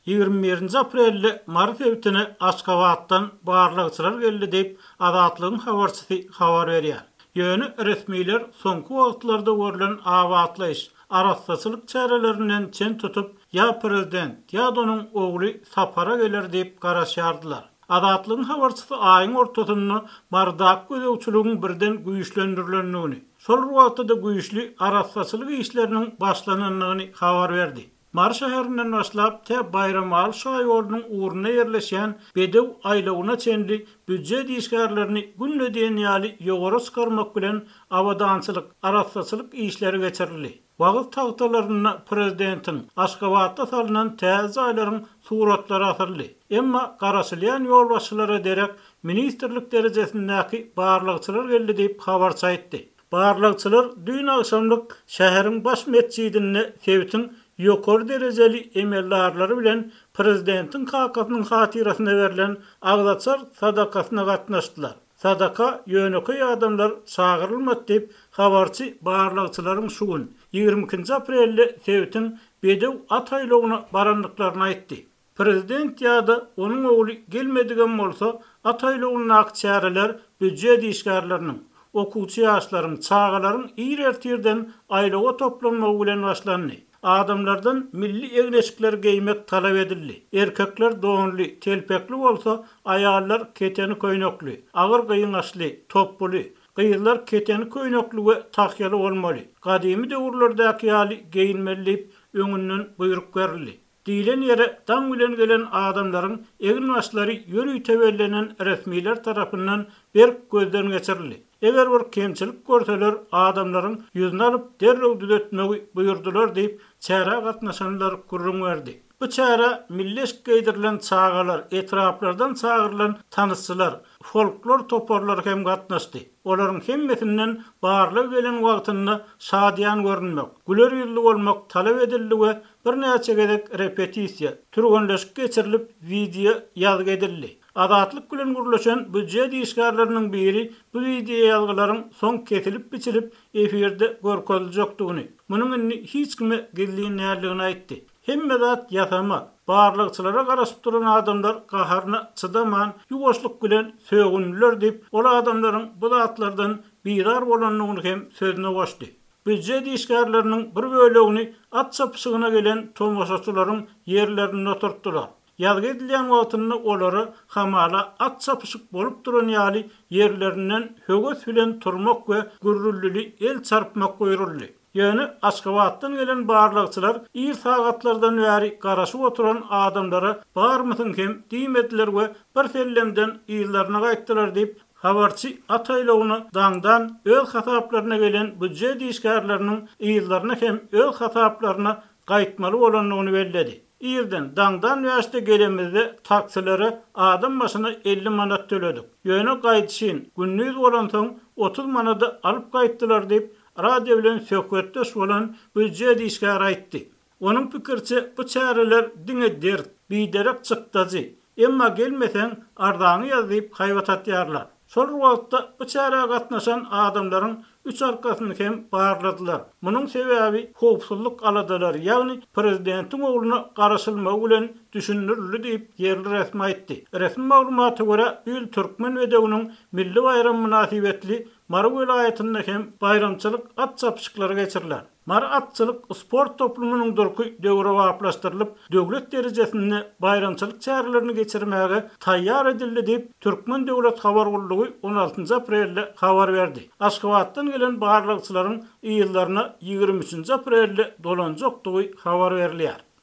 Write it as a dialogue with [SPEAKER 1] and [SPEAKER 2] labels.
[SPEAKER 1] Ýigrimi birinji aprelde Mary sebitine Aşgabatdan barlagçylar geldi diýip, Azatlygyň habarçysy habar berýär. Ýöne resmiler soňky wagtlarda görlen abatlaýyş, arassaçylyk çärelerinden çen tutup, ýa prezident, ýa-da onuň ogly sapara geler diýip garaşýardylar. Azatlygyň habarçysy aýyň ortasynda bardak gözegçiligiň birden güýçlendirilendigini, şol bir wagtda-da güýçli arassaçylyk işleriniň başlanandygyny habar berdi. Mary şäherinden başlap, tä Baýramaly şaýolunyň ugrunda ýerleşýän Bedew aýlawyna çenli býujet işgärlerini günde diýen ýaly ýowara çykarmak bilen abadançylyk, arassaçylyk işleri geçirildi. Wagyz tagtalarynda prezidentiň Aşgabatda salnan täze jaýlaryň suratlary asyldy. Emma garaşylýan ýolbaşçylara derek ministrlik derejesindäki barlagçylar geldi diýip habarçy aýtdy. Barlagçylar düýn agşamlyk şäheriň baş metjidinde sebitiň ýokary derejeli emeldarlary bilen prezidentiň kakasynyň hatyrasyna berlen agzaçar sadakasyna gatnaşdylar. Sadaka ýönekeý adamlar çagyrylmady diýip, habarçy barlagçylaryň şu gün, ýigrimi ikinji aprelde sebitiň bedew at aýlawyna barandyklaryny aýtdy. Prezident ýa-da onuň ogly gelmedigem bolsa, at aýlawyndaky çäreler býujet işgärleriniň, okuwçy ýaşlaryň, çagalaryň ir ertirden aýlawa toplanmagy bilen başlandy. Adamlardan milli egin-eşikleri geýmek talap edildi. Erkekler donly, telpekli bolsa, aýallar keteni köýnekli, agyr gyňaçly, topbuly, gyzlar keteni köýnekli we tahýaly bolmaly, gadymy döwürlerdäki ýaly geýinmeli diýip, öňünden buýruk berildi. Diýlen ýere daň bilen gelen adamlaryň egin-başlary ýörite bellenen resmiler tarapyndan berk gözden geçirildi. Eger bir kemçilik görseler, adamlaryň ýüzüni alyp, derrew düzetmegi buýurdylar diýip, çärä gatnaşanlar gürrüň berdi. Bu çärä milli eşik geýdirilen çagalar, etraplardan çagyrylan tansçylar, folklor toparlary hem gatnaşdy. Olaryň hemmesinden barlygy gelen wagtynda şadyýan görünmek, güler ýüzli bolmak talap edildi we birnäçe gezek repetisiýa, türgenleşik geçirilip, wideo ýazgy edildi. Azatlyk bilen gürleşen býujet işgärleriniň biri bu wideoýazgylaryň soň kesilip-biçilip efirde görkeziljekdigini, munuň indi hiç kime gizlin däldigini aýtdy. Hemme zat ýasama. Barlagçylara garaşyp duran adamlar gaharyna çydaman, ýuwaşlyk bilen sögündiler diýip, ol adamlaryň bu zatlardan bizar bolandygyny hem sözüne goşdy. Býujet işgärleriniň bir bölegini at çapyşygyna gelen tomaşaçylaryň ýerlerinde oturtdylar. Ýazgy edilýän wagtynda olary hamala at çapyşyk bolup duran ýaly ýerlerinden höwes bilen turmak we gürrüldili el çarpmak buýruldy. Ýöne Aşgabatdan gelen barlagçylar ir sagatlardan bäri garaşyp oturan adamlara barmysyň hem diýmediler we birsellemden yzlaryna gaýtdylar diýip, habarçy at aýlawyna daňdan öz hasaplaryna gelen býujet işgärleriniň yzlaryna hem öz hasaplaryna gaýtmaly bolandygyny belledi. Irden, daňdan bäşde gelemizde taksilere adam başyna elli manat töledik. Ýöne gaýdyşyn, gündiz bolansoň, otuz manada alyp gaýtdylar diýip, radio bilen söhbetdeş bolan býujet işgäri aýtdy. Onuň pikiriçe, bu çäreler diňe dert, biderek çykdajy, Emma gelmeseň arzaňy ýaz diýip haýbat atýarlar. Şol wagtda bu çärä gatnaşan adamlaryň üç arkasyny hem barladylar. Munuň sebäbi howpsuzlyk aladalary, ýagny prezidentiň ogluna garaşylmagy bilen düşündirildi diýip, ýerli resmi aýtdy. Resmi maglumata görä, bu ýyl türkmen bedewiniň milli baýramy mynasybetli Mary welaýatynda hem baýramçylyk at çapyşyklary geçiriler. Mary atçylyk sport toplumynyň durky döwrebaplaşdyrylyp, döwlet derejesinde baýramçylyk çärelerini geçirmäge taýýar edildi diýip, Türkmen döwlet habar gullugy on altynjy aprelde habar berdi. Aşgabatdan gelen barlagçylaryň yzlaryna ýigrimi üçünji aprelde dolanjakdygy habar berilýär.